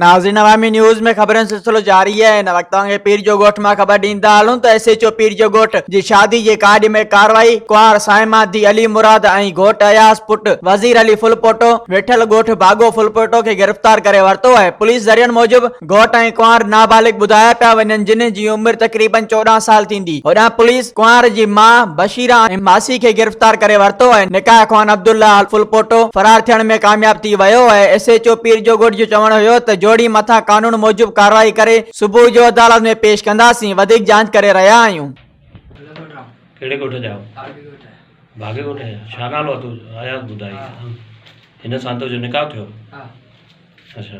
ناظرين عوامي نيوز ۾ خبرن سلسلو جاري آهي هن وقت توهان کي پير جو ڳوٺ مان خبر ڏيندا هلون ته ايس ايچ او پير جو ڳوٺ جي شادي جي ڪارڊ ۾ ڪارروائي ڪنوار سائما ڌي علي مراد ۽ گهوٽ اياز پٽ وزير علي ڦلپوٽو ويٺل ڳوٺ باگو ڦلپوٽو کي گرفتار ڪري ورتو آهي پوليس ذريعن موجب گهوٽ ۽ ڪنوار نابالغ ٻڌايا پيا وڃن جن جي عمر تقريبن چوڏهن سال ٿيندي، هوڏانهن پوليس ڪنوار جي ماء بشيره ۽ ماسي کي گرفتار ڪري ورتو ۽ نڪاح خوان عبدالله الفلپوٽو فرار ٿيڻ ۾ ڪامياب ٿي ويو ۽ ايس ايڇ او پير جوڳوٺ جو چوڻ هيو ته جوڙي مٿان قانون موجب ڪارروائي ڪري صبح جو عدالت ۾ پيش ڪنداسين وڌيڪ جاچ ڪري رهيا آهيون. ڪهڙي ڳوٺ جا آهيو باغي ڳوٺ جا ڇا نالو اٿو اياز ٻڌائي هن سان تو جو نڪاح ٿيو اڇا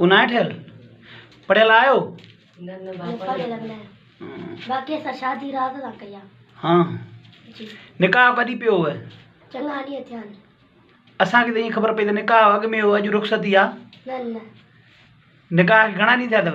اونائي ٺهيل پڙهيل آهيو ها نڪاح ڪڏي پيو هو اسانکي ته ايئن خبر پئي ته نڪاح اڳ ۾ هو اڄ رخصتي آ نڪاح کي گهڻا ڏينهن ٿيا اٿو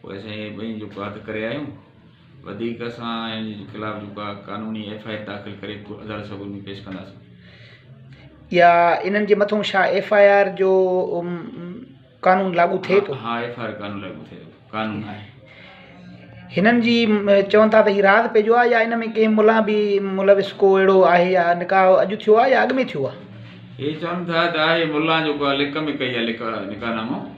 پوء اسين اهي ٻئي جوڪا هٿ ڪري آيون وڌيڪ اسان انهن جي خلاف جوڪا قانوني ايف آء آر داخل ڪري عدالت سڳوري ۾ پيش ڪنداسين. يا انهن جي مٿون ڇا ايف آء آر جو قانون لاڳو ٿئي ٿو؟ ها ايف آء آر قانون لاڳو ٿئي ٿو قانون آهي. هنن جي چون ٿا ته هي راز پئي جو آهي يا ان ۾ ڪنهن ملان به ملوث ڪو اهڙو آهي يا نڪاح اڄ ٿيو آهي يا اڳ ۾ ٿيو آهي. هي چون ٿا ته آهي ملان جوڪا لڪ ۾ ڪئي آهي لڪ نڪاح نامو.